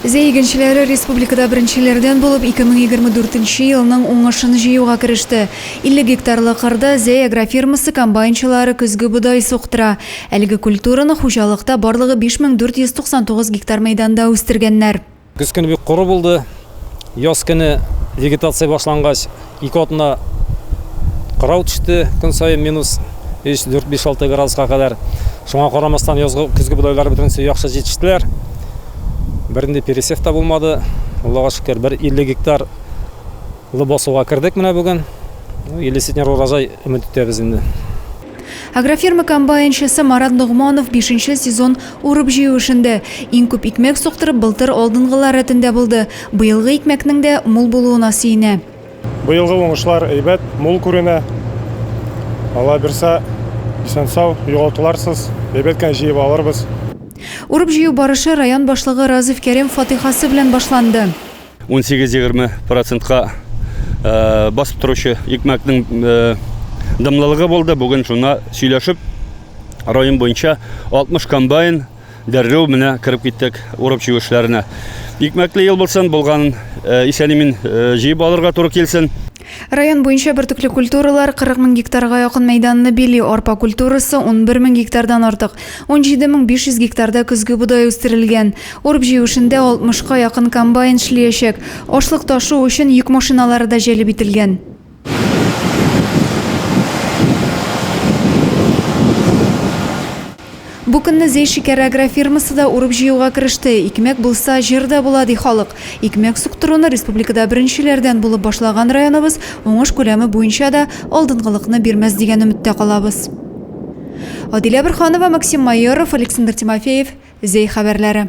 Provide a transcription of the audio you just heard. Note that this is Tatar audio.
Зәй игенчеләре республикада беренчеләрдән булып 2024 елның уңышын җыюга кереште. 50 гектарлы кырда Зәй агрофирмасы комбайнчылары көзге бодай суктыра. Әлеге культураны хуҗалыкта барлыгы 5499 гектар мәйданда үстергәннәр. Көз көне бик коры булды. Яз көне вегетация башлангач, ике атна кырау төште, көн саен минус 3, 4, 5, 6 градуска кадәр. Шуңа карамастан, язгы, көзге бодайлар бөтенесе яхшы җитештеләр. Бернинди пересев та булмады. Аллага шөкер, бер 50 гектар Лыбасуга кердек менә бүген. 50 центнер урожай өмет итәбез инде. Агрофирма комбайнчысы Марат Ногманов бишенче сезон урып-җыю эшендә. Иң күп икмәк суктырып, былтыр алдынгылар рәтендә булды. Быелгы икмәкнең дә мул булуына сөенә. Быелгы уңышлар әйбәт, мул күренә. Алла бирсә, исән-сау, югалтуларсыз, әйбәт кенә җыеп алырбыз. Урып-җыю барышы район башлыгы Разыйф Кәрим фатыйхасы белән башланды. 18-20 процентка басып торучы икмәкнең дымлылыгы булды. Бүген шуна сөйләшеп, район буенча 60 комбайн дәррәү менә кереп киттек урып җыю эшләренә. Икмәкле ел булсын, булган исән-имин җыеп алырга туры килсен. Район буенча бөртекле культуралар 40 мең гектарга якын мәйданны били, арпа культурасы 11 мең гектардан артык, 17 мең 500 гектарда көзге будай үстерелгән. Урып-җыю эшендә 60 ка якын комбайн эшлиячәк. Ашлык ташу өчен йөк машиналары да җәлеп ителгән. Бу көнне Зәй шикәр агрофирмасы да урып-җыюга кереште. Икмәк булса, җыр да була, ди халык. Икмәк суктыруны республикада беренчеләрдән булып башлаган районыбыз уңыш күләме буенча да алдынгылыкны бирмәс дигән өметтә калабыз. Адилә Борһанова, Максим Майоров, Александр Тимофеев, Зәй хәбәрләре.